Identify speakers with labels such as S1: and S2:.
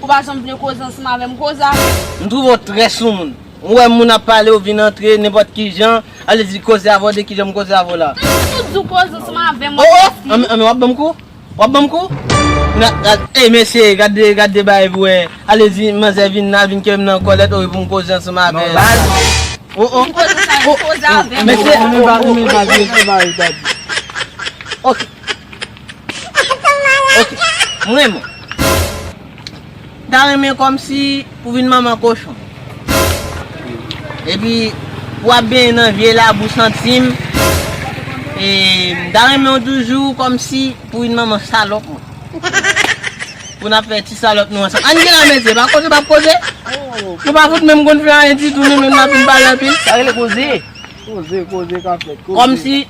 S1: Ou pa janm vle koze ansanm avèm koza. M trouve w trè
S2: soumoun. Ou wè moun ap pale ou vin antre nenpòt kijan, ale di koze avè w de kijan m koze avè w la. Depi ou di w koze ansanm
S1: avèm wap fè si. Oh oh anmè wap banm kou?
S2: Wap banm kou? Ey mesye gade gade bagay pou wè ale di manzè vin la vin kèm nan kòlèt oh epi pou m koze ansanm avè l. Oh oh oh oh mesye. Anmè pa renmen bagay sa yo. Ok. Ok m renmen. M ta renmen kòmsi pou vin manman kochon. Epi pou ap benyen nan vye labou santi m. E m ta renmen w toujou kòmsi pou vin manman salòp mwen. Pou n ap fè ti salòp nou ansanm. Ann gen la mesye pa koze pa koze. Nou pa fout menm konn fè anyen ditou nou menm n ap vin pale anpil. Sa rele koze.
S3: Koze koze ka fèt. Kòmsi.